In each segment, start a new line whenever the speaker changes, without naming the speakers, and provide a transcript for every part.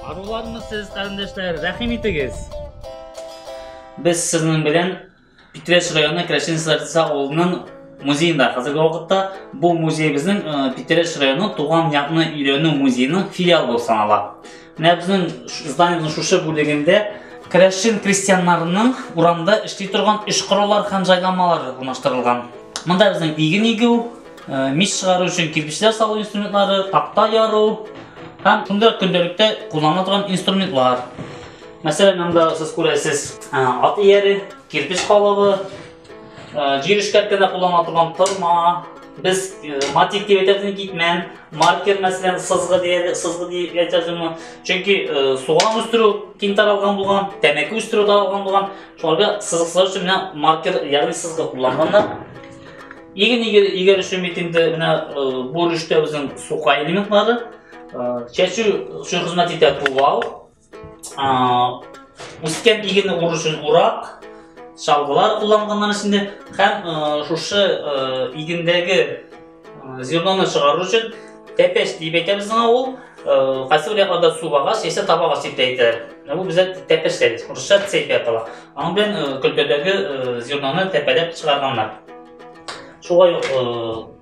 Арулармы сез, кардәшләр, рәхим итегез. Без сезнең белән Питрәч районы Крәшен Сарца авылының музеенда хәзерге вакытта бу музеебезнең э, Питрәч районы туган якны өйрәнү музееның филиалы булып санала. Менә безнең зданиенең шушы бүлегендә Крәшен крестьяннарының урамда эшли торган эш кораллар һәм җайламалар урнаштырылган. Монда безнең иген игү, э, мич чыгару өчен кирпечләр салу инструментлары, такта яру һәм шундый көндәлектә кулланыла торган инструментлар. Мәсәлән, анда сез күрәсез, ат ияре, кирпич калыбы, җир эшкәрт кенә куллана торган тырма, без матик дип әйтәбез китмән, маркер мәсәлән сызгы диеле, сызгы дип әйтәбез аны. Чөнки суган үстерү киң таралган булган, тәмәке үстерү таралган булган. Шуларга сызгыклар өчен менә маркер, ягъни сызгы кулланганнар. Иген игәр өчен бит инде менә бу рүштә безнең сука элементлары, чәчү өчен хезмәт итә тувал, үскән игене уру өчен урак, чалгылар кулланганнар эчендә һәм шушы игендәге зерноны чыгару өчен тәпәш дип әйтәбез аңа ул хасил якларда су агач яисә таба агач дип әйтәләр бу бездә тәпәш дибез урысча цепь атала аның белән көлтәдәге зерноны тәпәләп чыгарганнар шулай ук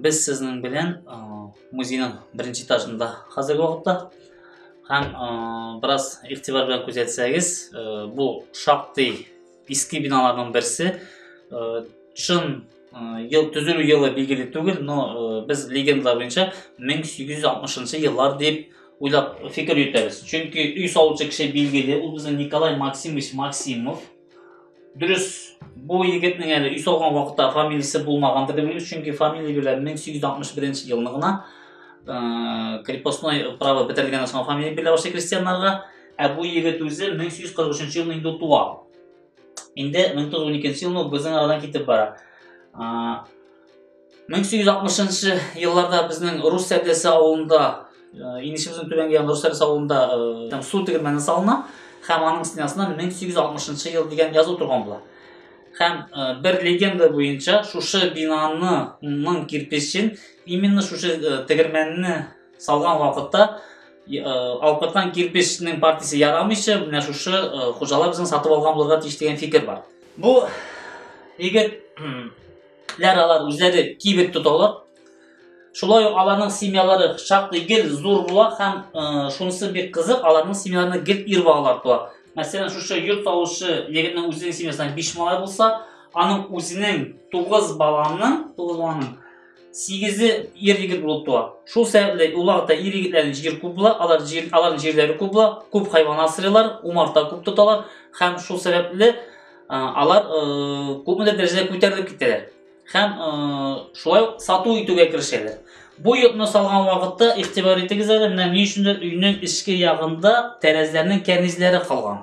Без сезнең белән э, музейның беренче этажында хәзерге вакытта һәм э, бераз игътибар белән күзәтсәгез, э, бу шактый иске биналарның берсе. Чын ел төзелү елы билгеле түгел, но без легенда буенча 1860 еллар дип уйлап фикер йөртәбез. Чөнки өй салучы кеше билгеле, ул безнең Николай Максимович Максимов. Дөрес, бу егетнең әле өй салган вакытта фамилиясе булмагандыр дип уйлыйбыз, чөнки фамилия белән 1861 елны гына э, крепостной право бетерелгәннән соң фамилия бирелә башлый крестьяннарга, ә бу егет үзе 1843 елны инде туа. Инде 1912 елны безнең арадан китеп бара. 1860 елларда безнең рус сәдәсе авылында инешебезнең түбәнге ягында рус сәдәсе авылында су тегермәне салына һәм аның стенасына 1860 ел дигән язу торган була һәм бер легенда буенча шушы бинаның кирпечен именно шушы тегермәнне салган вакытта алпыртан кирпечнең партиясе ярамыйча менә шушы хуҗалар безнең сатып алган булырга тиеш дигән фикер бар бу егет ләр алар үзләре кибет тоталар. Шулай ук аларның семьялары шактый гел зур була һәм э, шунысы бик кызык, аларның семьяларында гел ир балалар туа. Мәсәлән, шушы йорт салучы егетнең үзенең семьясында 5 малай булса, аның үзенең 9 баланың, 9 баланың 8-е ир егет булып туа. Шул сәбәпле уларда ир егетләрнең җир күп була, алар җир, аларның җирләре күп була, күп хайван асрыйлар, умарта күп тоталар һәм шул сәбәпле алар күпмедер дәрәҗәдә күтәрелеп китәләр һәм шулай ук сату итүгә керешәләр бу йортны салган вакытта игътибар итегез әле менә ни өчендер өйнең эчке ягында тәрәзәләрнең кәрнизләре калган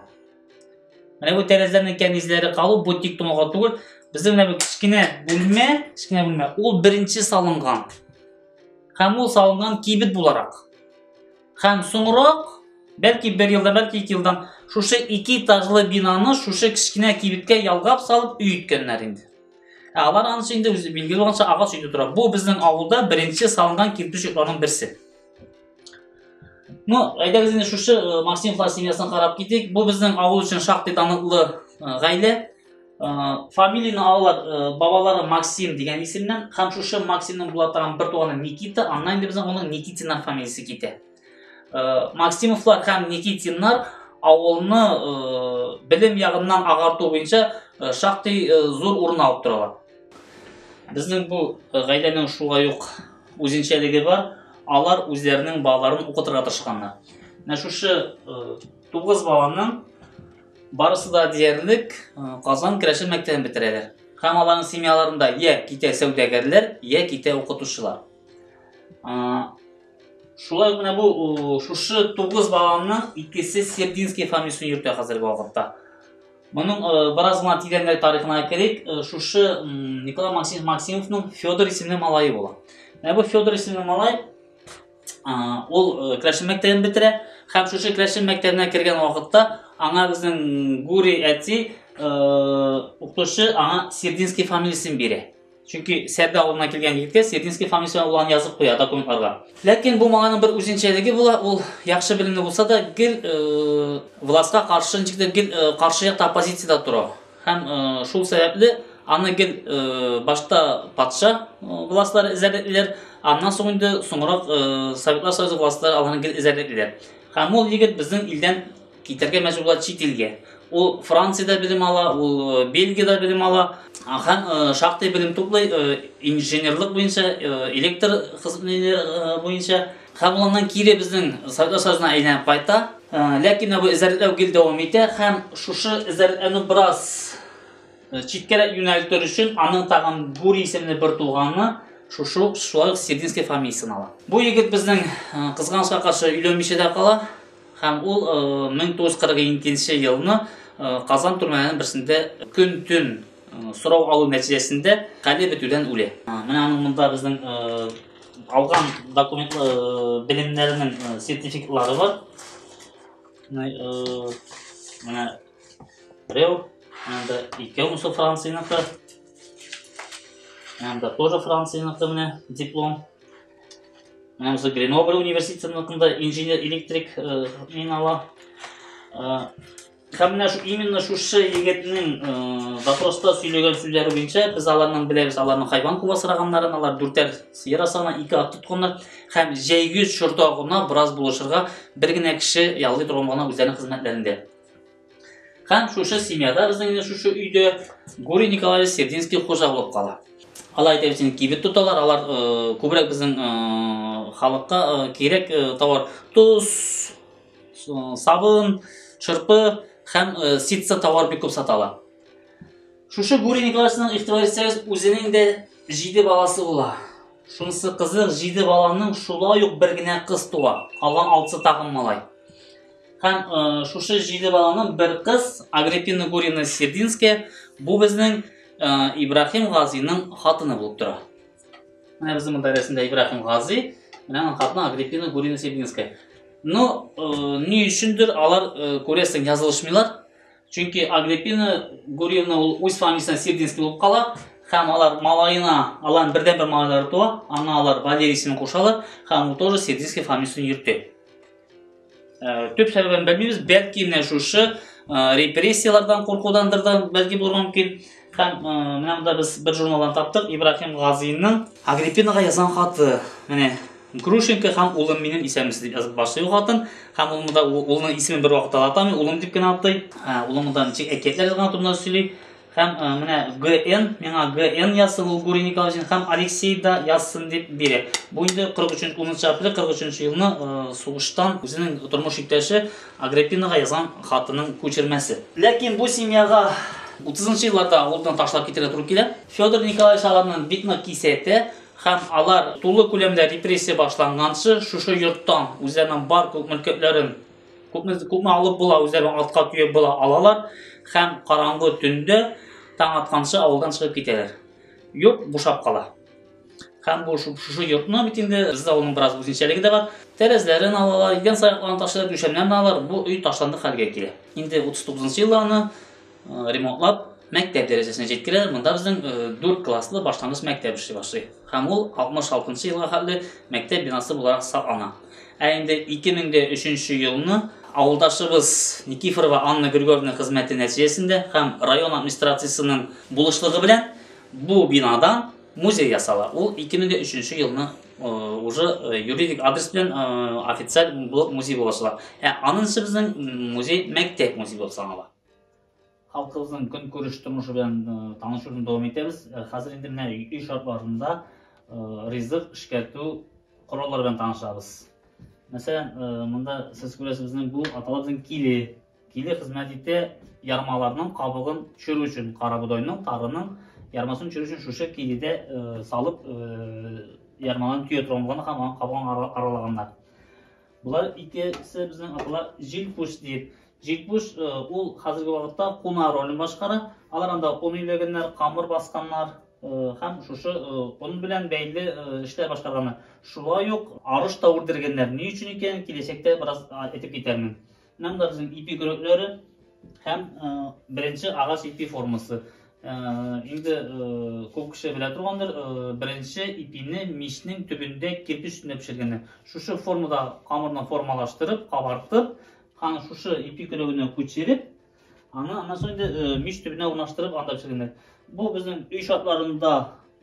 менә бу тәрәзәләрнең кәрнизләре калу бу тик тоналга түгел безнең менә бу кечкенә бүлмә кечкенә бүлмә ул беренче салынган һәм ул салынган кибет буларак Һәм соңрак, бәлки бер елдан, бәлки ике елдан шушы ике этажлы бинаны шушы кечкенә кибеткә ялгап салып өй иткәннәр инде. Ә алар анысы инде үзе билгеле булганча агач өйдә тора. Бу безнең авылда беренче салынган кирпеч йортларның берсе. Ну, әйдәгез инде шушы э, Максимовлар семьясын карап китик. Бу безнең авыл өчен шактый таныклы э, гаилә. фамилияны алалар э, бабалары максим деген исемнән һәм шушы максимның була торган бер туганы никита аннан инде безнең оның никитиннар фамилиясе китә э, максимовлар һәм никитиннар авылны э, белем ягыннан агарту буенча шактый зур урын алып торалар безнең бу гаиләнең шулай ук үзенчәлеге бар алар үзләренең балаларын укытырга тырышканнар менә шушы тугыз баланың Барысы да диярлек Казан керәшен мәктәбен бетерәләр. Һәм аларның семьяларында я китә сәүдәгәрләр, я китә укытучылар. Шулай гына бу шушы 9 баланың икесе Сердинский фамилиясен йөртә хәзерге вакытта. Моның бераз гына тирәнрәк тарихына керик. Шушы Николай Максимовның Федор исемле малае була. Ә бу Федор исемле малай ул э, Кләшен мәктәбен бетерә һәм шушы Кләшен мәктәбенә кергән вакытта аңа безнең Гури әти э, укытучы аңа Сердинский фамилиясен бирә. Чөнки Сәрдә авылына килгән егеткә Сердинский фамилиясе улан язып куя документларга. Ләкин бу маңаның бер үзенчәлеге була, ул яхшы белемле булса да, гел э, властька каршы, ничектер гел э, каршы якта оппозициядә тора. Һәм шул сәбәпле аны гел башта патша властьлары эзәрлеклиләр, аннан соң инде соңрак Советлар Союзы властьлары аларны гел эзәрлеклиләр. Һәм ул егет безнең илдән китәргә мәҗбүр була чит илгә. Ул Франциядә белем ала, ул Бельгиядә белем ала һәм шактый белем туплый инженерлык буенча, электр хезмәтләре буенча. Һәм аннан кире безнең сәүдә сазына әйләнеп кайта. Ләкин бу эзәрлекләү гел дәвам итә һәм шушы эзәрлекләүне бераз читкәрәк юнәлтер өчен аның тагын Гури исемле бер туганы шушы ук шулай ук Сирдинский фамилиясен ала. Бу егет безнең кызганычка каршы өйләнмичә дә кала һәм ул 1942 елны Казан төрмәләренең берсендә көн-төн сорау алу нәтиҗәсендә хәле бетүдән үлә. Менә аның монда безнең алган документ э, белемнәренең э, сертификатлары бар. Э, менә Рев, анда икәүмсо Францияныкы. Анда тоже Францияныкы менә диплом. Менә үзе Гренобль университетында инженер-электрик мин ала. Һәм менә шу именно шушы егетнең э, допроста сөйләгән сүзләре буенча без аларның беләбез, аларның хайван куа сораганнарын, алар дүртәр сыер асана, ике ат тотканнар һәм җәйгүз чорда гына бераз булышырга бер генә кеше яллый торган гына үзләренең хезмәтләрендә. Һәм шушы семьяда безнең инде шушы өйдә Гурий Николаевич Сердинский хуҗа булып кала. Алар әйтәбез, кибет тоталар, алар э, күбрәк безнең э, халыкка э, кирәк э, товар, тоз, сабын шырпы һәм ситса товар бик күп сата ала шушы гурий николаевичның игътибар итсәгез үзенең дә җиде баласы була шунысы кызык җиде баланың шулай ук бер генә кыз туа калган алтысы тагын малай һәм ә, шушы җиде баланың бер кыз агриппина гурина сердинская бу безнең ә, ибраһим газиның хатыны булып тора Менә безнең монда рәсемдә Ибраһим Гази, менә аның хатыны Агриппина Гурина Сибинская. Но э, ни өчендер алар э, күрәсең язылышмыйлар. Чөнки Агриппина Гурина ул үз фамилиясенә Сибинский булып кала, һәм алар малаена, аларның бердән бер малайлары туа, аңа алар Валерий исемен кушалар, һәм ул тоже Сибинский фамилиясен йөртә. Ә, төп сәбәбен белмибез, бәлки менә шушы ә, репрессияләрдән куркудандыр да бәлки булырга мөмкин. Һәм ә, менә монда без бер журналдан таптык, Ибраһим Газинның Агриппинаға язган хаты. Менә Грушенко һәм улым минем исәмис дип язып башлый хатын. Һәм ул монда улының исемен бер вакытта да атамый, улым дип кенә атый. Ә, улым монда ничек әкиятләр язган турында сөйли. Һәм э, менә ГН, миңа ГН язсын ул Гурий Николаевич һәм Алексей да язсын дип бирә. Бу инде 43 10 апрель 43 елны э, сугыштан үзенең тормыш иптәше Агриппинага язган хатының күчермәсе. Ләкин бу семьяга 30 елларда авылдан ташлап китәргә туры килә. Федор Николаевич аларның бик нык кисәтә һәм алар тулы күләмдә репрессия башланганчы шушы йорттан үзләренең бар күк мөлкәтләрен Күпме, күпме алып була, үзләре артка төяп була алалар һәм караңгы төндә таң атканчы авылдан чыгып китәләр. Йорт бушап кала. Һәм бу шушы йортны бит инде бездә авылның бераз үзенчәлеге дә бар. Тәрәзләрен алалар, идән саякларын ташлап, түшәмнәрен алалар. Бу өй ташланды хәлгә килә. Инде 39 елларны ремонтлап мәктәп дәрәҗәсенә җиткерә. Монда безнең 4 класслы башлангыч мәктәп эшли башлый. Һәм ул 66 елга хәтле мәктәп бинасы буларак саклана. Ә инде 2003 елны авылдашыбыз Никифорова Анна Григорьевна хезмәте нәтиҗәсендә һәм район администрациясенең булышлыгы белән бу бинадан музей ясала. Ул 2003 елны уже юридик адрес белән официаль булып музей булачак. Ә анысы безнең музей мәктәп музей булып санала. Халкыбызның көнкүреш тормышы белән танышуны дәвам итәбез. Хәзер инде менә өй шартларында ризык эшкәртү кораллары белән танышабыз. Мәсәлән, монда сез күрәсез, безнең бу аталарыбызның киле. Киле хезмәт итә ярмаларның кабыгын төшерү өчен, карабодайның, тарының ярмасын төшерү өчен шушы киледә салып ярмаларын төя торган булган һәм аның кабыгын аралаганнар. Болар икесе безнең аталар җилпуш дип. Җилпуш э, ул хәзерге вакытта куна ролен башкара. Алар анда он иләгәннәр, камыр басканнар э, һәм шушы э, он белән бәйле эшләр башкарганнар. Шулай ук арыш та үрдергәннәр. Ни өчен икән, киләчәктә бераз әйтеп китәрмен. Монда безнең ипи көрәкләре һәм э, беренче агач ипи формасы. Э, инде э, күп кеше белә торгандыр, беренче ипине мичнең төбендә кирпич өстендә пешергәннәр. Шушы формада камырны формалаштырып, кабартып, аны шушы ипи көрәгенә күчереп, Аны аннан соң инде э, мич төбенә урнаштырып анда пешергәндә. Бу безнең өй шартларында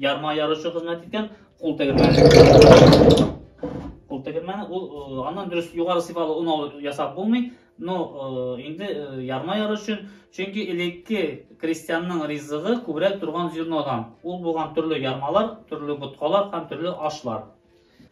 ярма яручы хезмәт иткән кул тегермәне. Кул тегермәне ул э, аннан дөрес югары сыйфалы он алып ясап булмый, но э, инде ярма яру өчен, чөнки элекке крестьянның ризыгы күбрәк торган зернодан. Ул булган төрле ярмалар, төрле боткалар һәм төрле ашлар.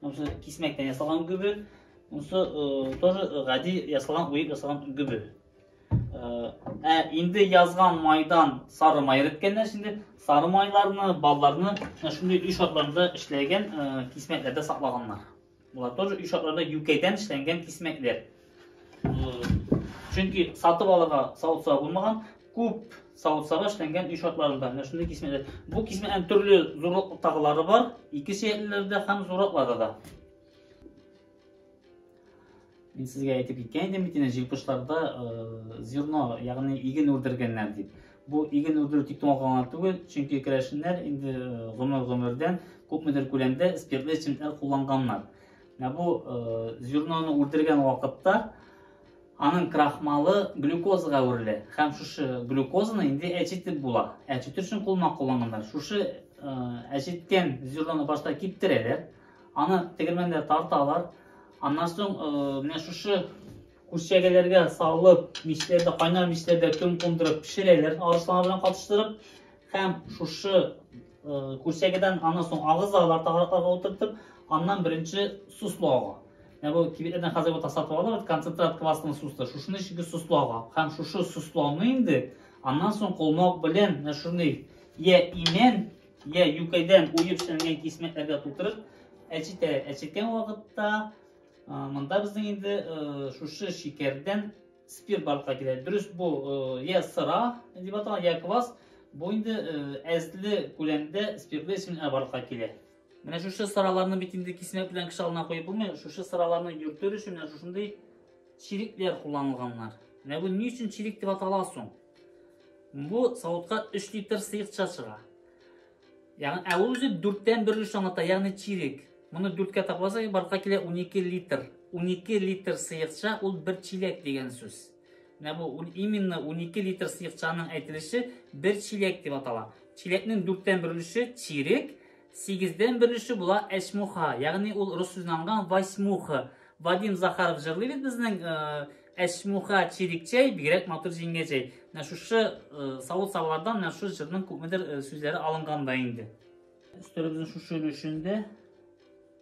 Монысы кисмәктән ясалган гөбе. Монысы э, тоже э, гади ясалган, уеп ясалган гөбе. Э, ә инде язган майдан сары май рәткәннәр инде сары майларны, балларны шундый өй шартларында эшләгән кисмәкләрдә саклаганнар. Булар тоже өй шартларында юкәйдән эшләнгән кисмәкләр. Чөнки сатып алырга савытса булмаган, күп савытсага эшләнгән өй шартларында менә шундый кисмәләр. Бу кисмәнең төрле зурлыктагылары бар, ике сөякләрдә һәм зуракларда да. Мин сезгә әйтеп киткән идем бит инде җилпышларда э, зерно, ягъни иген үрдергәннәр дип. Бу иген үрдерү тик туңа гына түгел, чөнки керәшеннәр инде э, гомер-гомердән күпмедер күләмдә спиртлы эчемлекләр кулланганнар. Ә бу зерноны үрдергән вакытта аның крахмалы глюкозага үрелә. Һәм шушы глюкозаны инде әчетеп була. Әчетү өчен кулмак кулланганнар. Шушы әчеткән зерноны башта киптерәләр. Аны тегермәндә тарталар. Аннан соң менә шушы Күршегеләргә салып, мичләрдә, кайнар мичләрдә кем кундырып пешерәләр, арысланлар белән катыштырып. Һәм шушы э, күршегедән аннан соң агызалар тагыракларга утыртып, аннан беренче суслы ага. Менә бу кибетләрдән хәзер бу тасатып алалар, концентрат квасны суслы. Шушыны чиге суслы ага. Һәм шушы сусланы инде аннан соң колмак белән менә шундый я имән, я юкәдән уеп эшләнгән кисмәкләргә тутырып, әчетә. Әчеткән вакытта Монда безнең инде шушы шикәрдән спирт барлыкка килә. Дөрес бу я сыра дип аталган, я квас. Бу инде әзле күләмдә спиртлы эсминләр барлыкка килә. Менә шушы сыраларны бит инде кисмәк белән кеше алдына куеп булмый. Шушы сыраларны йөртер өчен менә шушындый чирикләр кулланылганнар. Менә бу ни өчен чирик дип атала соң? Бу савытка 3 литр сыекча чыга. Ягъни, ә үзе дүрттән бер өлеш аңлата, ягъни чирек. Моны дүрткә тапласак, барлыкка килә 12 литр. 12 литр сыекча ул бер чиләк дигән сүз. Менә бу именно 12 литр сыекчаның әйтелеше бер чиләк дип атала. Чиләкнең дүрттән бер өлеше чирек, сигездән бер өлеше була әчмуха, ягъни ул рус сүзенә алынган восьмуха. Вадим Захаров җырлый бит безнең э, Әсмуха Чирикчәй, бигрәк матур җиңгәҗәй. Менә шушы савыт савлардан менә шушы җырның күпмедер сүзләре алынган да инде. Өстәлебезнең шушы өлешендә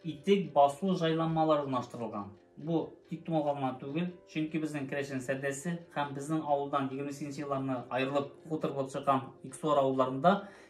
итек басу җайланмалары урнаштырылган. Бу тик тумалга гына түгел, чөнки безнең Керәшен сәрдәсе һәм безнең авылдан 28 елларны аерылып хуторлык чыккан Иксуар авылларында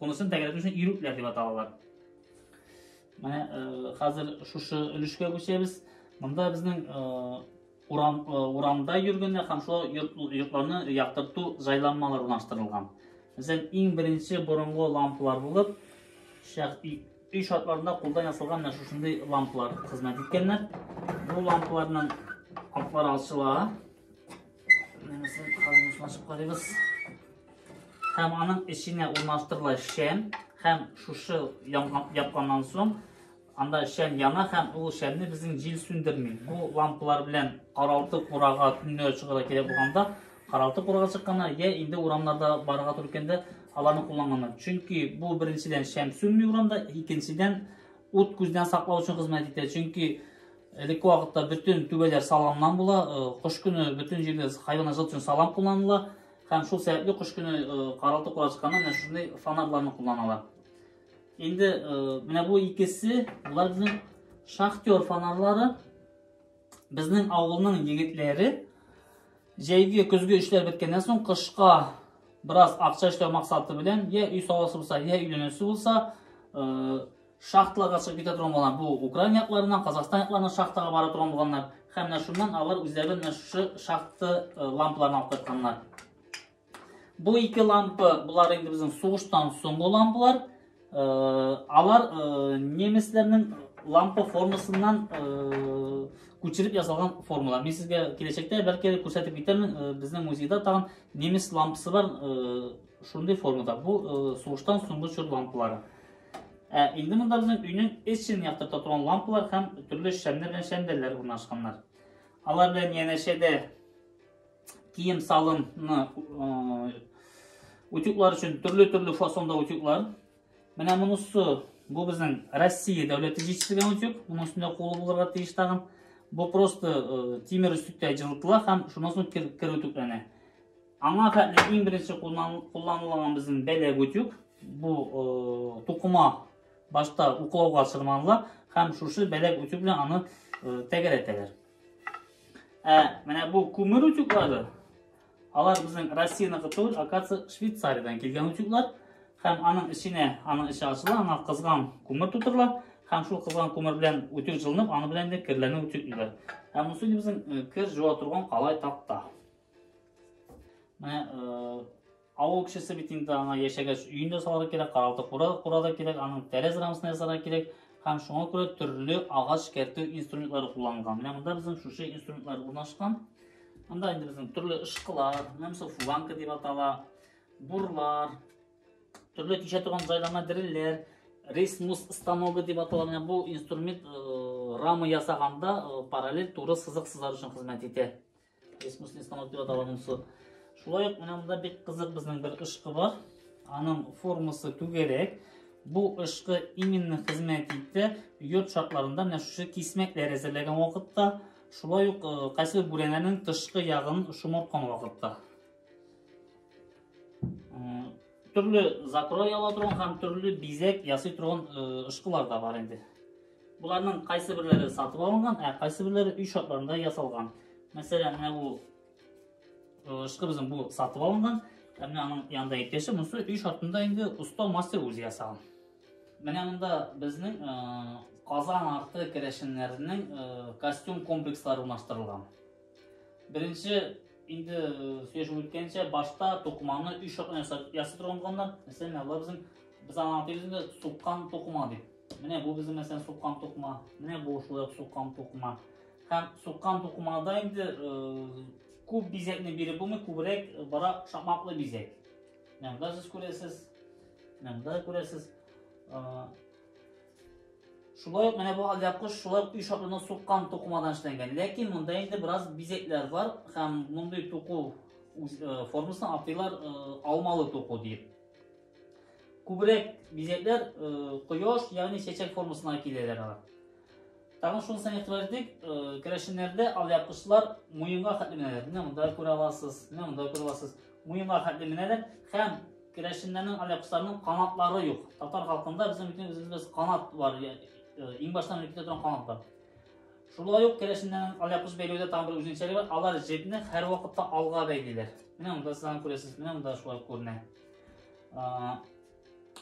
Кунысын тәгәрәтү өчен ирүкләр дип аталалар. Менә хәзер шушы өлешкә күчәбез. Монда безнең урам, урамда йөргәндә һәм шулай йортларны яктырту җайланмалары урнаштырылган. Мәсәлән, иң беренче борынгы лампалар булып, өй шартларында кулдан ясалган менә шушындый лампалар хезмәт иткәннәр. Бу лампаларның атлары ачыла. Менесен хәзер шулашып карыйбыз. Һәм аның эченә урнаштырыла шәм һәм шушы япканнан соң анда шәм яна һәм ул шәмне безнең җил сүндерми. Бу лампалар белән каралты курага төнлә чыгыра кирәк булганда, каралты курага чыкканнар я инде урамнарда барырга туры килгәндә аларны кулланганнар. Чөнки бу беренчедән шәм сүнми урамда, икенчедән ут күздән саклау өчен хезмәт итә. Чөнки Элекке вакытта бөтен түбәләр саламнан була. Кыш көне бөтен җирдә хайван азат өчен салам кулланыла. Һәм шул сәбәпле кыш көне каралты курасканда менә шундый фонарларны кулланалар. Инде менә бу икесе, булар безнең шахтер фонарлары. Безнең авылның егетләре җәйге көзге эшләр беткәннән соң кышка бераз акча эшләү максаты белән, я өй саласы булса, я өйләнәсе булса, Шахталарга чыгып китә торган булганнар. Бу Украина якларыннан, Казахстан якларыннан шахтага бара торган булганнар. Һәм менә шуннан алар үзләре менә шушы шахта э, лампаларын алып кайтканнар. Бу ике лампа, булар инде безнең сугыштан соңгы лампалар. Э, алар э, немецләрнең лампа формасыннан күчереп ясалган формалар. Мин сезгә киләчәктә бәлки күрсәтеп китермен, безнең музейда тагын немец лампасы бар, шундый формада. Бу сугыштан соңгы чор лампалары. Ә инде монда безнең өйнең эчен яктырта торган лампалар һәм төрле шәмнәр белән шәмдәлләр урнашканнар. Алар белән янәшәдә кием салымны утюглар өчен төрле-төрле фасонда утюглар. Менә монысы бу безнең Россия дәүләте җитештерген утюг. Моның өстендә кулы булырга тиеш тагын. Бу просто тимер өстүктә җылытыла һәм шуннан соң кер, кер Аңа хәтле иң беренче кулланылган безнең бәләк утюг. Бу тукыма башта уклауга чырманыла һәм шушы бәләк утюг белән аны тәгәрәтәләр. Ә менә бу күмер утюглары, алар безнең Россиянеке түгел, акация Швейцариядән килгән утюглар һәм аның эченә, аның эче ачыла, аңа кызган күмер тутырыла һәм шул кызган күмер белән утюг җылынып, аны белән дә керләрне утюглыйлар. Һәм монысы безнең кер җуа торган калай такта. Менә авыл кешесе бит инде аңа яшәгәч өен дә салырга кирәк, каралты кура, кура да кирәк, аның тәрәз рамасын ясарга кирәк һәм шуңа күрә төрле агач кертү инструментлары кулланган. Менә монда безнең шушы инструментлар урнашкан. Монда инде безнең төрле ышкылар, нәрсә фуганка дип атала, бурлар, төрле тишә торган җайланма дрелләр, рейсмус станогы дип атала. Менә бу инструмент э, рама ясаганда э, параллель туры сызык сызар өчен хезмәт итә. Бесмысленный станок дип атала монысы. Шулай ук менә монда бик кызык безнең бер ышкы бар. Аның формасы түгәрәк. Бу ышкы именно хезмәт итте. Йорт шартларында менә шушы кисмәкләр әзерләгән вакытта, шулай ук кайсы бүрәнәнең тышкы ягын шомарткан вакытта. Төрле закрой ала торган һәм төрле бизәк ясый торган ышкылар да бар инде. Боларның кайсы бирләре сатып алынган, ә кайсы бирләре өй шартларында ясалган. Мәсәлән, менә бу ышкы безнең бу сатып алынган, ә менә аның янында икенче, монысы өй шартында инде оста мастер үзе ясаган. Менә монда безнең Казан арты керәшеннәренең костюм комплекслары урнаштырылган. Беренче инде сөйләшеп үткәнчә, башта тукыманы өй шартында ясап торганнар. Мәсәлән, алар безнең без аңа тигезендә суккан тукыма дип Менә бу безнең мәсәлән суккан тукма. Менә бу шулай ук суккан тукма. Һәм суккан тукмада инде күп бизәкне биреп булмый, күбрәк бара шакмаклы бизәк. Менә монда сез күрәсез. Менә монда күрәсез. Шулай ук менә бу алда куш шулай ук ишатларны суккан тукмадан эшләнгән. Ләкин монда инде бераз бизәкләр бар һәм мондый туку формасын атыйлар алмалы туку дип. Күбрәк бизәкләр э, кояш, ягъни чәчәк формасына киләләр алар. Тагын шунысын игътибар итик, э, керәшеннәрдә алъяпкычлар муенга хәтле менәләр. Менә монда күрә аласыз, менә монда күрә аласыз. Муенга хәтле менәләр һәм керәшеннәрнең алъяпкычларының канатлары юк. Татар халкында безнең бөтен үзебез канат бар, э, иң баштан үтә торган канат бар. Шулай ук керәшеннәрнең алъяпкыч бәйләүдә тагын бер үзенчәлеге бар, алар җепне һәрвакытта алга бәйлиләр. Менә монда сез аны күрәсез, менә монда шулай күренә.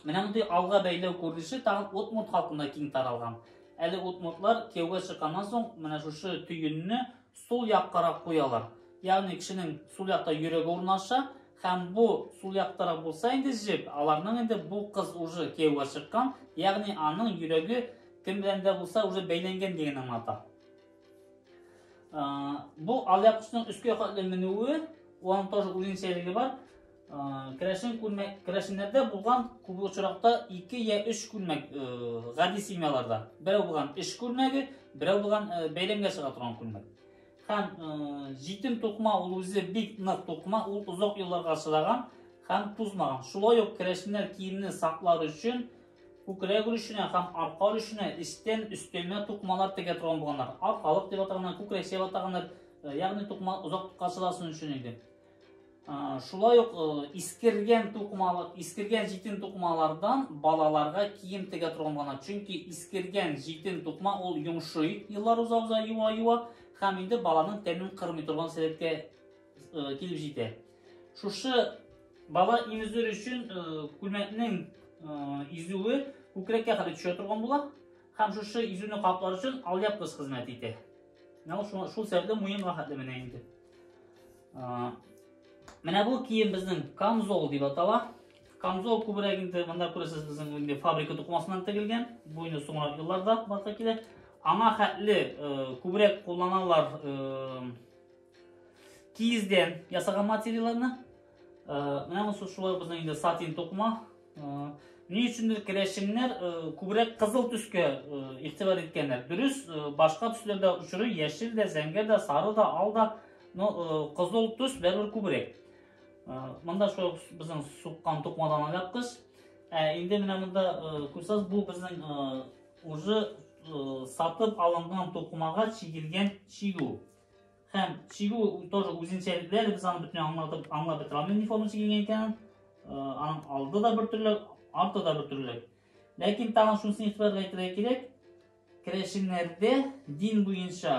Менә мондый алга бәйләү күренеше тагын удмурт халкында киң таралган. Әле удмуртлар кияүгә чыкканнан соң менә шушы төенне сул яккарак куялар. Ягъни кешенең сул якта йөрәге урнаша һәм бу сул яктарак булса инде җеп, аларның инде бу кыз уже кияүгә чыккан, ягъни аның йөрәге кем белән дә булса уже бәйләнгән дигән аңлата. Бу алъяпкычның өскә катлы менүе, аның тоже үзенчәлеге бар. Керәшен күлмәк, керәшеннәрдә булган күп очракта ике я өч күлмәк гади семьяларда. Берәү булган эш күлмәге, берәү булган бәйләмгә чыга торган күлмәк. Һәм җитем тукма ул үзе бик нык тукма, ул озак елларга чыдаган һәм тузмаган. Шулай ук керәшеннәр киемне саклар өчен күкрәк өлешенә һәм арка өлешенә эчтән өстәмә тукмалар тегә торган булганнар. Аркалык дип атаганнар, күкрәк дип атаганнар. Ягъни тукма озак качыласын өчен иде. Шулай ук искергән тукмалы, искергән җитен тукмалардан балаларга кием тегә торган гына. Чөнки искергән җитен тукма ул йомшый, еллар уза уза юа юа һәм инде баланың тәнен кырмый торган сәләткә килеп җитә. Шушы бала имезүр өчен күлмәкнең изүе күкрәккә кадәр төшә торган була һәм шушы изүне каплар өчен алъяпкыч хезмәт итә. Менә ул шул, шул сәбәпле муенга хәтле менә инде. А, менә бу кием безнең камзол дип атала. Камзол күбрәк инде монда күрәсез безнең инде фабрика тукмасыннан тегелгән. Бу инде соңрак елларда барса килә. Аңа хәтле э, күбрәк кулланалар э, Киездән ясаган материалларны. Менә монысы шулай безнең инде сатин тукма. Ни өчендер керәшеннәр күбрәк кызыл төскә игътибар иткәннәр. Дөрес, башка төсләр дә очрый, яшел дә, зәңгәр дә, сары да, ал да, но кызыл төс бәрбер күбрәк. Монда шул безнең суккан тукмадан алапкыз. Ә инде менә монда күрсәз бу безнең уже сатып алынган тукмага чигелгән чигү. Һәм чигү тоже үзенчәлекләр, без аны бөтенләй аңлатып, аңлап бетерә алмыйм, ни форма чигенгән икәнен. Аның алды да бер төрле, арты да бер төрле. Ләкин тагын шунысын игътибарга әйтергә кирәк, керәшеннәрдә дин буенча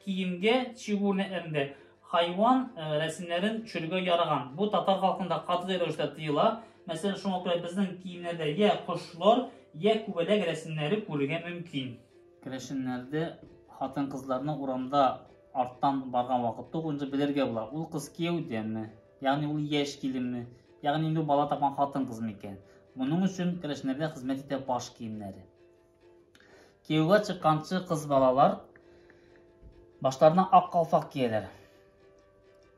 киемгә чигү үрнәкләрендә хайван рәсемнәрен төшерергә яраган. Бу татар халкында катгый рәвештә тыела. Мәсәлән, шуңа күрә безнең киемнәрдә я кошлар, я күбәләк рәсемнәре күрергә мөмкин. Керәшеннәрдә хатын-кызларны урамда арттан барган вакытта ук инде белергә була, ул кыз кияүдәме, ягъни ул яшь киленме, ягъни инде бала тапкан хатын-кызмы икән. Моның өчен керәшеннәргә хезмәт итә баш киемнәре. Кияүгә чыкканчы кыз балалар башларына ак калфак кияләр.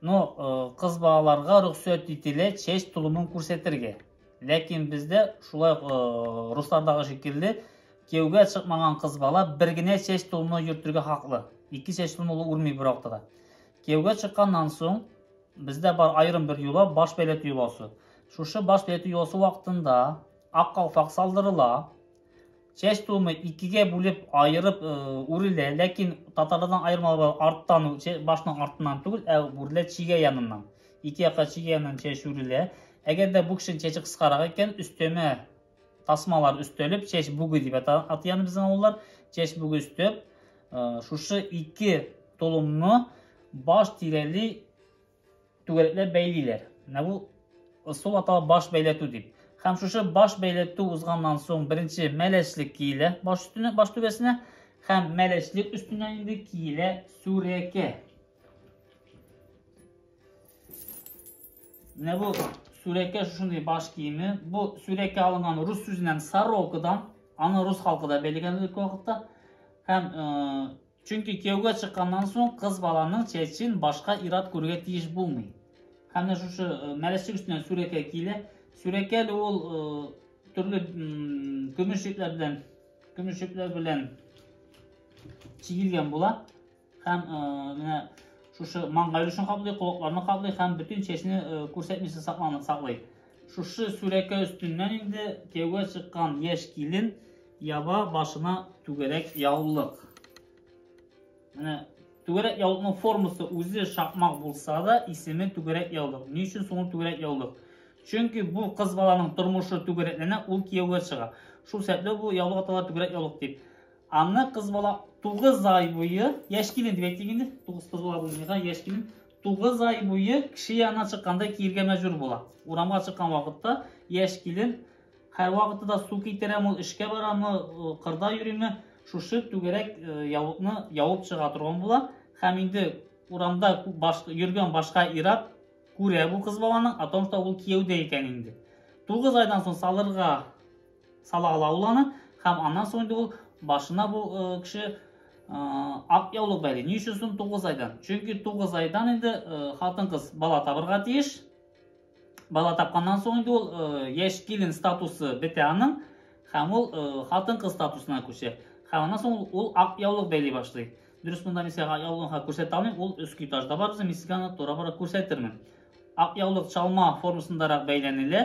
Ну, э, кыз балаларга рөхсәт ителә чәч тулымын күрсәтергә. Ләкин бездә шулай э, руслардагы шикелле кияүгә чыкмаган кыз бала бер генә чәч тулымны йөртергә хаклы. Ике чәч тулымы ул үрми бер вакытта да. Кияүгә чыкканнан соң бездә бар аерым бер юла баш бәйләтү юласы. Шушы баш бәйләтү юласы вакытында ак калфак салдырыла. Чәч тулмый, икегә бүлеп, аерып э, үрелә, ләкин татарлардан аермалы бар, арттан, башның артыннан түгел, ә үрелә чигә яныннан. Ике якка чигә яныннан чәч үрелә. Әгәр дә бу кешенең чәче кыскарак икән, өстәмә тасмалар өстәлеп, чәч бүге дип атыян безнең авыллар, чәч бүге өстәп, э, шушы ике толымны баш тирәли Түгәрәкләп бәйлиләр. Менә бу ысул атала баш бәйләтү дип. Һәм шушы баш бәйләтү узганнан соң беренче мәләчлек киелә баш өстенә, баш түбәсенә һәм мәләчлек өстенә инде киелә сүрәкә. Менә бу сүрәкә шушындый баш киеме. Бу сүрәкә алынган рус сүзеннән сорокадан, аны рус халкы да бәйләгән элек вакытта. Һәм э, Чөнки кияүгә чыкканнан соң кыз баланың чәчен башка ират күрергә тиеш булмый. Һәм дә шушы э, мәләчек өстенә сүрәкәй килә. Сүрәкәл ул э, төрле көмеш ипләр белән көмеш ипләр белән чигелгән була. Һәм э, менә шушы маңгай өлешен каплый, колакларны каплый һәм бөтен чәчне күрсәтмичә сакланып саклый. Шушы сүрәкә өстеннән инде кияүгә чыккан яшь килен яба башына түгәрәк яулык. Менә түгәрәк яулыкның формасы үзе шакмак булса да, исеме түгәрәк яулык. Ни өчен соң түгәрәк яулык? Чөнки бу кыз баланың тормышы түгәрәкләнә, ул кияүгә чыга. Шул сәбәпле бу яулык атала түгәрәк яулык дип. Аны кыз бала 9 ай буе, яшь килен дип әйтик инде, 9 кыз бала булмыйга, яшь килен Тугыз ай буе кеше янына чыкканда киергә мәҗбүр була. Урамга чыккан вакытта яшь килен һәрвакытта да су китерәм, ул эшкә барамы, э, кырда йөриме, шушы түгәрәк э, яулыкны явып чыга торган була. Һәм инде урамда баш, йөргән башка ират күрә бу кыз баланың, о том, что ул кияүдә икән инде. Тугыз айдан соң салырга Сала ала ул аны, һәм аннан соң инде ул башына бу э, кеше э, ак яулык бәйли. Ни өчен соң 9 айдан? Чөнки 9 айдан инде э, хатын-кыз бала табырга тиеш. Бала тапканнан соң инде ул яшь килен статусы бетә аның, һәм ул хатын-кыз статусына күчә. Һәм аннан соң ул ак яулык бәйли башлый. Дөрес монда мин сиңа яулыгын күрсәтә алмыйм, ул өске этажда бар, мин сиңа аны тора-бара күрсәтермен. Ак яулык чалма формасындарак бәйләнелә.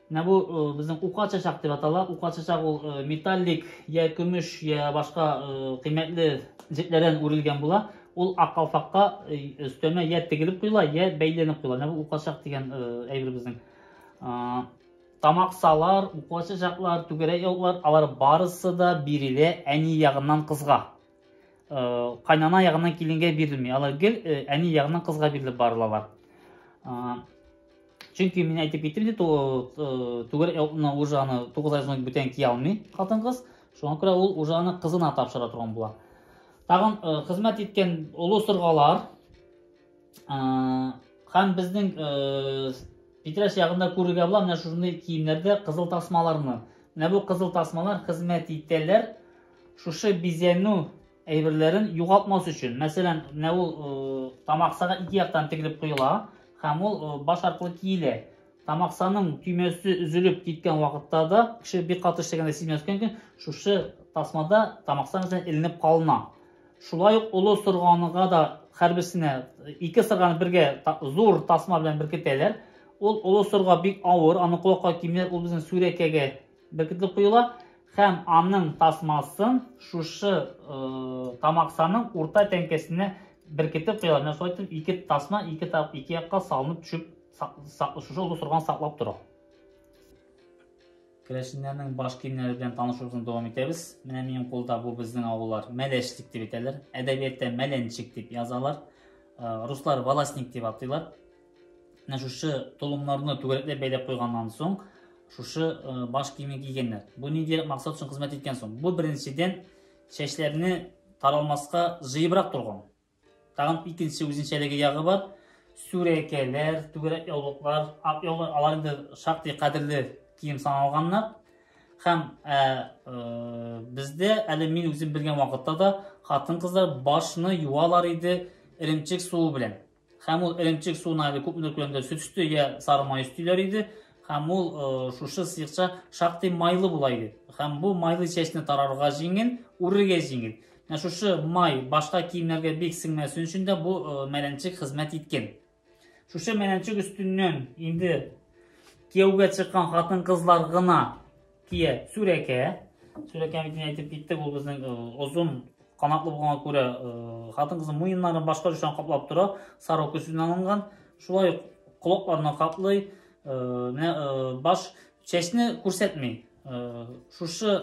Менә бу безнең ука чәчәк дип атала. Ука чәчәк ул металлик я көмеш, я башка кыйммәтле җепләрдән үрелгән була. Ул ак калфакка өстәмә я тегелеп куела, я бәйләнеп куела. Менә бу ука чәчәк дигән әйбер безнең. Тамаксалар, ука чәчәкләр, түгәрәк яулыклар, алар барысы да бирелә әни ягыннан кызга. Кайнана ягыннан киленгә бирелми. Алар гел әни ягыннан кызга бирелеп барылалар. Чөнки мин әйтеп киттем бит, түгел аны уже аны 9 ай соң бүтән кия алмый хатын-кыз. Шуңа күрә ул уже аны кызына тапшыра торган була. Тагын хезмәт иткән олы сыргалар һәм безнең Питрәш ягында күрергә була менә шушындый киемнәрдә кызыл тасмаларны. Менә бу кызыл тасмалар хезмәт итәләр Шушы бизәнү әйберләрен югалтмас өчен, мәсәлән, менә ул э, тамаксага ике яктан тегелеп куела һәм ул э, баш аркылы киелә. Тамаксаның төймәсе өзелеп киткән вакытта да, кеше бик каты эшләгәндә сизмәскән икән, шушы тасмада тамаксан белән эленеп калына. Шулай ук олы сырганыга да һәрберсенә ике сырганы бергә зур тасма белән беркетәләр. Ул олы сырга бик авыр, аны колакка кимнәр, ул безнең сүрәкәгә Беркетелеп куела һәм аның тасмасын шушы тамаксаның урта тәңкәсенә беркетеп куела. Менә шулай итеп ике тасма ике тап ике якка салынып төшеп шушы озын сорган саклап тора. Керәшеннәрнең баш киемнәре белән танышуыбызны дәвам итәбез. Менә минем кулда бу безнең авыллар мәләшлек дип әйтәләр. Әдәбиятта мәләнчек дип язалар. Руслар волосник дип атыйлар. Менә шушы толымнарны түгәрәкләп бәйләп куйганнан соң, шушы э, баш киеме кигәннәр. Бу нинди максат өчен хезмәт иткән соң? Бу беренчедән чәчләрне таралмаска җыебрак торган. Тагын икенче үзенчәлеге ягы бар. Сүрәкәләр, түгәрәк яулыклар, ак яулыклар, алар инде шактый кадерле кием саналганнар. Һәм ә, э, ә, э, бездә әле мин үзем белгән вакытта да хатын-кызлар башны юалар иде эремчек суы белән. Һәм ул эремчек суына әле күп нөркләндә сөт өсте я сары май өстиләр иде. Һәм ул э, шушы сыекча шактый майлы була иде. Һәм бу майлы чәчне тарарга җиңел, үрергә җиңел. Менә шушы май башка киемнәргә бик сеңмәсен өчен дә бу э, мәләнчек хезмәт иткән. Шушы мәләнчек өстеннән инде кияүгә чыккан хатын-кызлар гына Кия, сүрәкә. Сүрәкә бит әйтеп киттек, ул безнең озын канатлы булганга күрә хатын-кызның муеннарын башка өлешен каплап тора, сарык көсеннән алынган. Шулай ук колакларны каплый, менә баш чәчне күрсәтми. Шушы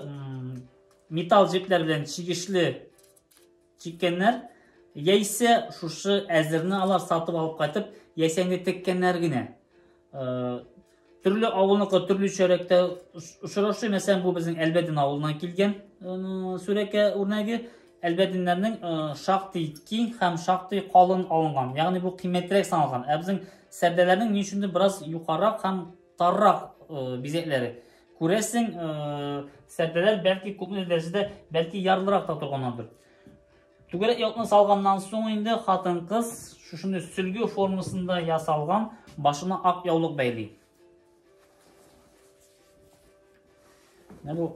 металл җепләр белән чигешле Чиккәннәр, яисә шушы әзерне алар сатып алып кайтып, яисә инде теккәннәр генә. Төрле авылныкы төрле чәрәктә очрашый. Мәсәлән, бу безнең Әлбәдин авылыннан килгән сүрәкә үрнәге. Әлбәдиннәрнең шактый киң һәм шактый калын алынган. Ягъни бу кыйммәтрәк саналган. Ә безнең сәрдәләрнең ни өчендер бераз юкарак һәм таррак бизәкләре. Күрәсең, сәрдәләр бәлки күпме дәрәҗәдә, бәлки ярлырак та торганнардыр. Түгәрәк якны салганнан соң инде хатын-кыз шушыны сөлге формасында ясалган башына ак яулык бәйли. Менә бу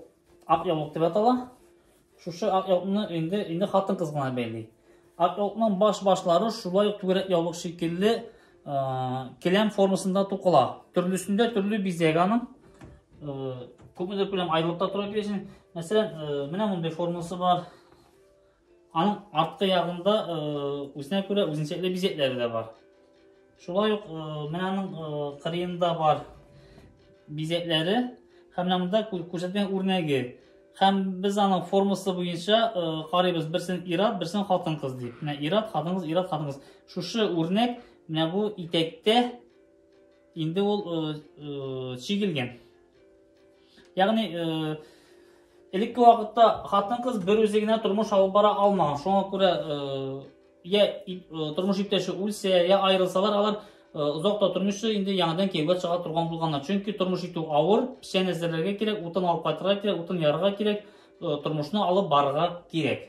ак яулык дип атала. Шушы ак яулыкны инде инде хатын-кыз гына бәйли. Ак яулыкның баш-башлары шулай ук түгәрәк яулык шикелле келәм формасында тукыла. Төрлесендә төрле бизәк аның. Күпмедер күләм аерылып та тора килешен. Мәсәлән, менә мондый формасы бар. Аның арткы ягында үзенә күрә үзенчәле бизәкләре дә бар. Шулай ук менә аның кырыенда бар бизәкләре һәм менә монда күрсәткән үрнәге. Һәм без аның формасы буенча карыйбыз, берсен ират, берсен хатын-кыз дип. Менә ират, хатын-кыз, ират, хатын-кыз. Шушы үрнәк менә бу итәктә инде ул чигелгән. Ягъни, э, элекке вакытта хатын-кыз бер үзе генә тормыш алып бара алмаган. Шуңа күрә э, я э, тормыш иптәше үлсә, я аерылсалар, алар озак та тормышы инде яңадан кияүгә чыга торган булганнар. Чөнки тормыш итү авыр, печән әзерләргә кирәк, утын алып кайтырга кирәк, утын ярырга кирәк, тормышны алып барырга кирәк.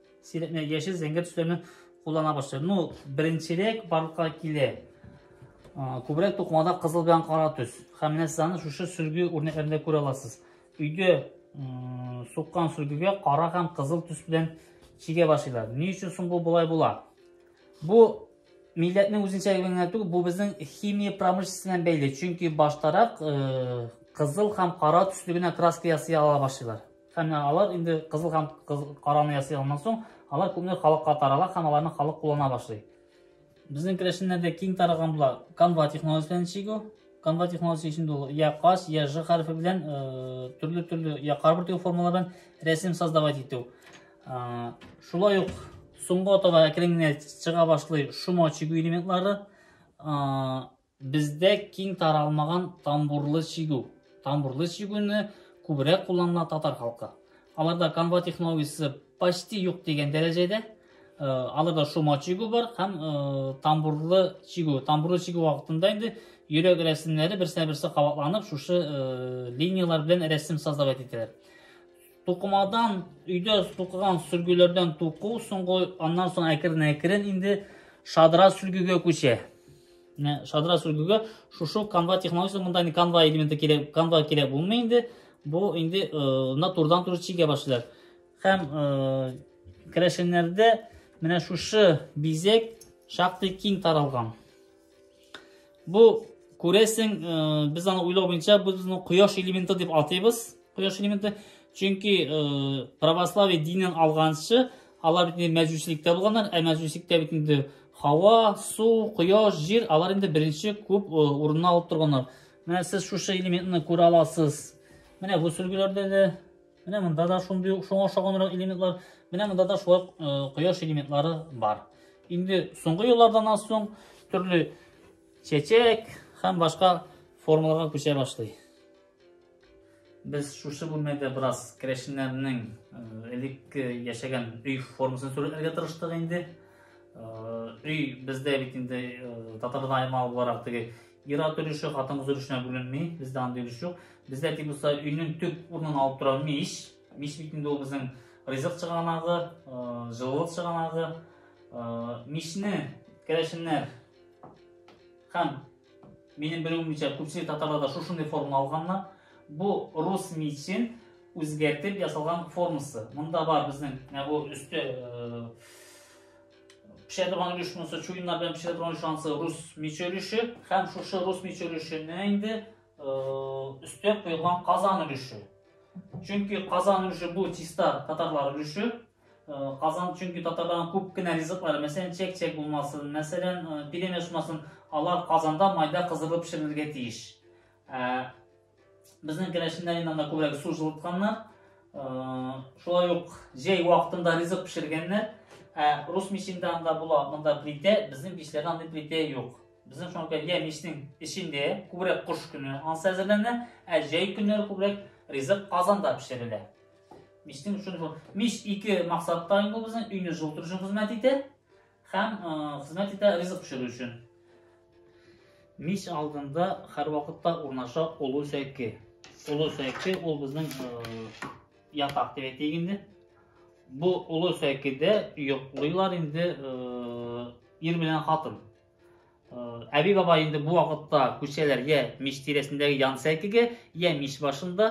Сирәкне яшел зәңгәр төсләрне куллана башлый. Ну, беренчерәк барлыкка килә. Күбрәк тукмада кызыл белән кара төс. Һәм менә сез аны шушы сөрге үрнәкләрендә күрә аласыз. Өйдә суккан сөргегә кара һәм кызыл төс белән чигә башлыйлар. Ни өчен соң бу болай була? Бу милләтнең үзенчәлеге генә түгел, бу безнең химия промышленностена бәйле. Чөнки баштарак кызыл һәм кара төсле генә краска ясый ала башлыйлар. Һәм ә, алар инде кызыл һәм караны ясый алганнан соң, алар күпме халыкка тарала һәм аларны халык куллана башлый. Безнең керәшеннәрдә киң таралган була канва технологиясе белән чигү. Канва технологиясе өчен ул я кас, я ж хәрефе белән э, төрле-төрле я карбур тегү формалардан рәсем создавать итү. Э, шулай ук соңгы атага әкрен генә чыга башлый шома чигү элементлары. Э, Бездә киң таралмаган тамбурлы чигү. Тамбурлы чигүне күбрәк кулланыла татар халкы. Аларда канва технологиясе почти юк дигән дәрәҗәдә. Э, аларда шома чигү бар һәм э, тамбурлы чигү. Тамбурлы чигү вакытында инде йөрәк рәсемнәре берсенә берсе кабатланып, шушы э, линияләр белән рәсем создавать ителә. Тукымадан өйдә тукыган сөлгеләрдән туку, соңгы аннан соң әкрен-әкрен инде шадра сөлгегә күчә. Менә шадра сүлгүгә шушы канва технологиясе монда инде канва элементы кирәк, канва кирәк булмый инде. Бу инде на турдан тур чигә башлар. Һәм керәшеннәрдә менә шушы бизек шактый киң таралган. Бу күрәсең, без аны уйлау буенча бу безнең кояш элементы дип атыйбыз. Кояш элементы. Чөнки э, православие динен алганчы алар бит мәҗүсилектә булганнар, ә мәҗүсилектә бит инде һава, су, кояш, җир алар инде беренче күп э, урынны алып торганнар. Менә сез шушы элементны күрә аласыз. Менә бу сөлгеләрдә дә, менә монда да шундый ук шуңа ошаганрак элементлар, менә монда да шулай э, кояш элементлары бар. Инде соңгы еллардан аз соң төрле чәчәк һәм башка формаларга күчә башлый. Без шушы бүлмәдә бераз керәшеннәрнең элекке яшәгән өй формасын сурәтләргә тырыштык инде. Өй бездә бит инде татарда аймал буларак теге ира өлеше, хатын-кыз өлешенә бүленми, бездә андый өлеш юк. Бездә тик булса өйнең төп урынын алып тора мич. Мич бит инде ул безнең ризык чыганагы, җылылык чыганагы. Мичне керәшеннәр һәм Минем белүемчә, күпчелек татарларда шушындый форма алганнар. Бу рус мичен үзгәртеп ясалган формасы. Монда бар безнең менә бу өсте э, пешә торган өлеш монысы чуеннар белән пешә торган өлеш анысы рус миче өлеше һәм шушы рус миче өлешенә инде өстә куелган казан өлеше. Чөнки казан өлеше бу чиста татарлар өлеше. Казан чөнки татарларның күп кенә ризыклары, мәсәлән, чәк-чәк булмасын, мәсәлән, пилемеш булмасын, алар Казанда майда кыздырылып пешерелергә тиеш. Безнең керәшеннәр инде анда күбрәк су җылытканнар. Шулай ук җәй вакытында ризык пешергәннәр. Ә рус мичендә анда була, монда плитә, безнең мичләрдә андый плитә юк. Безнең шуңа күрә я мичнең эчендә күбрәк кыш көне ансы әзерләнә, ә җәй көннәре күбрәк ризык Казанда пешерелә. Мичтең өчен шул. Мич ике максатта инде ул безнең өйне җылытыр өчен хезмәт итә һәм хезмәт итә ризык пешерү өчен. Мич алдында һәрвакытта урнаша олы сәке. Олы сәке ул безнең ятак дип әйтик инде. Бу олы сәкедә йоклыйлар инде ир белән хатын. Әби баба инде бу вакытта күчәләр я мич тирәсендәге ян сәкегә, я мич башында.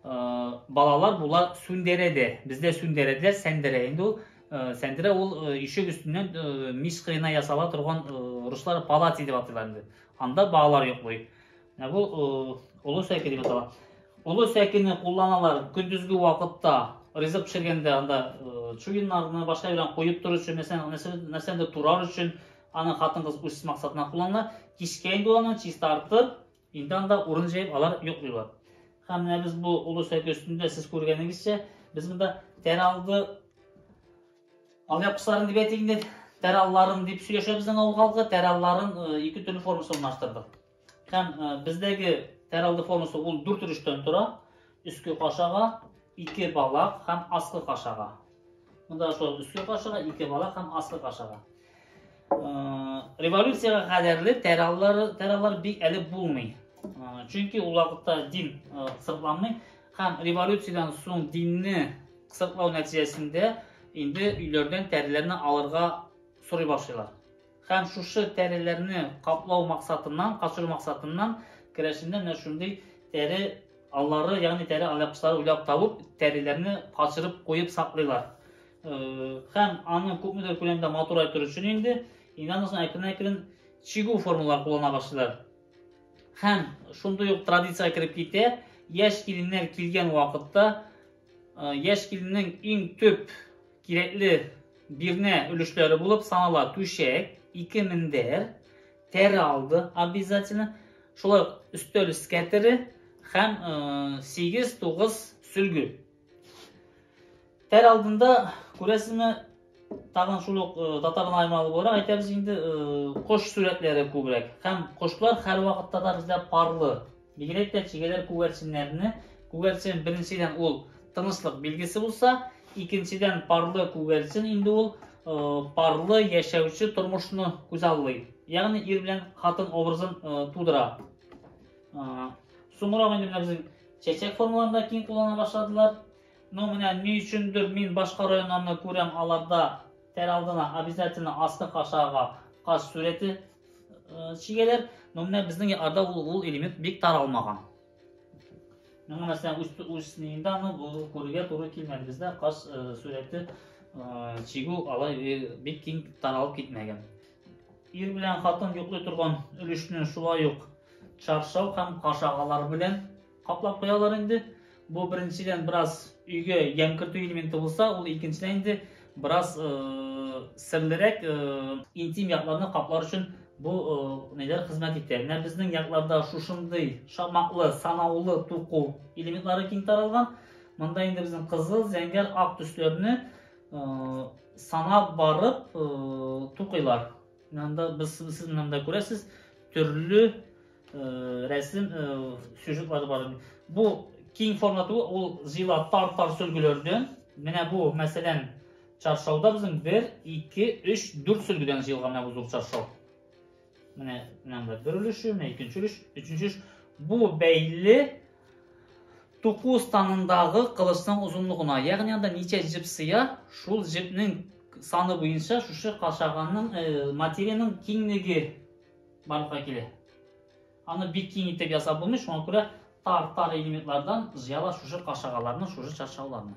Балалар була сүндерә дә. Бездә сүндерә дә, сәндерә инде ул. Сәндерә ул ишек өстеннән мич кыена ясала торган руслар палац дип атыйлар инде. Анда балалар йоклый. Ә бу олы сәке дип атала. Олы сәкене кулланалар көндезге вакытта ризык пешергәндә анда чуеннарны башка белән куеп тору өчен, мәсәлән, нәрсәдер турар өчен аны хатын-кыз үз максатына куллана. Кичкә инде аны чистартып, инде анда урын җәеп алар йоклыйлар. Һәм менә без бу олы сәке өстендә сез күргәнегезчә, без монда тәралды алъяп кысларын дип әйтик инде, тәралларын дип сөйләшә безнең авыл халкы, тәралларын ике төрле формасы урнаштырдык. Һәм бездәге тәралды формасы ул дүрт өлештән тора. Өске кашага, ике балак һәм аскы кашага. Монда шул өске кашага, ике балак һәм аскы кашага. Революциягә кадәрле тәраллар тәраллар бик әле булмый. Чөнки ул вакытта дин сыртланмый һәм революциядән соң динне сыртлау нәтиҗәсендә инде өйләрдән тәреләрне алырга сорый башлыйлар. Һәм шушы тәреләрне каплау максатыннан, качыру максатыннан керәшендә менә шундый тәре аллары, ягъни тәре алъяпкычлары уйлап табып, тәреләрне качырып куеп саклыйлар. Һәм аны күпмедер күләмдә матурай тору өчен инде инанасың әкрен-әкрен чигү формулар куллана башлыйлар. Һәм шундый ук традиция кереп китә, яшь киленнәр килгән вакытта яшь киленнең иң төп Кирәкле бирнә өлешләре булып санала түшәк, ике мендәр, тәре алды обязательно, шулай ук өстәл скәтере һәм 8-9 сөлге. Тәр алдында күрәсезме, тагын шул ук татарның аймалы буларак әйтәбез инде, кош сүрәтләре күбрәк. Һәм кошлар һәр вакытта да бездә парлы, Бигрәк тә чегәләр күгәрченнәрне, күгәрчен беренчедән ул тынычлык билгесе булса, икенчедән парлы күгәрчен инде ул парлы яшәүче тормышны күзаллый. Ягъни ир белән хатын образын тудыра. Соңрак инде менә безнең чәчәк формаларында киң куллана башладылар. Но менә ни өчендер мин башка районнарны күрәм, аларда тәр алдына обязательно аскы кашага каш сүрәте чигәләр, но менә безнең арда ул, ул элемент бик таралмаган. Миңа мәсәлән үз үз нинда аны бу күрергә туры килмәде. Бездә каз сурәте чигү алай бик киң таралып китмәгән. Ир белән хатын йоклый торган өлешне шулай ук чаршау һәм кашагалар белән Каплап куялар инде. Бу беренчедән бераз өйгә ямь кертү элементы булса, ул икенчедән инде бераз серлерәк интим якларны каплар өчен бу ниләр хезмәт итә. Менә безнең якларда шушындый шамаклы, санаулы туку элементлары киң таралган. Монда инде безнең кызыл, зәңгәр, ак төсләрне санап барып тукыйлар. Монда без сез монда күрәсез төрле рәсем сюжетлары бар бу киң форматы ул зила тар тар сөлгеләрдән менә бу мәсәлән чаршауда безнең бер ике өч дүрт сөлгедән җыелган менә бу зур чаршау менә менә бер өлеше менә икенче өлеш өченче өлеш бу бәйле туку станындагы кылычның озынлыгына ягъни анда ничә җеп сыя шул җепнең саны буенча шушы кашаганның материянең киңлеге барлыкка килә. Аны бик киң итеп ясап булмый, шуңа күрә тар-тар элементлардан җыяла шушы кашагаларны, шушы чаршауларны.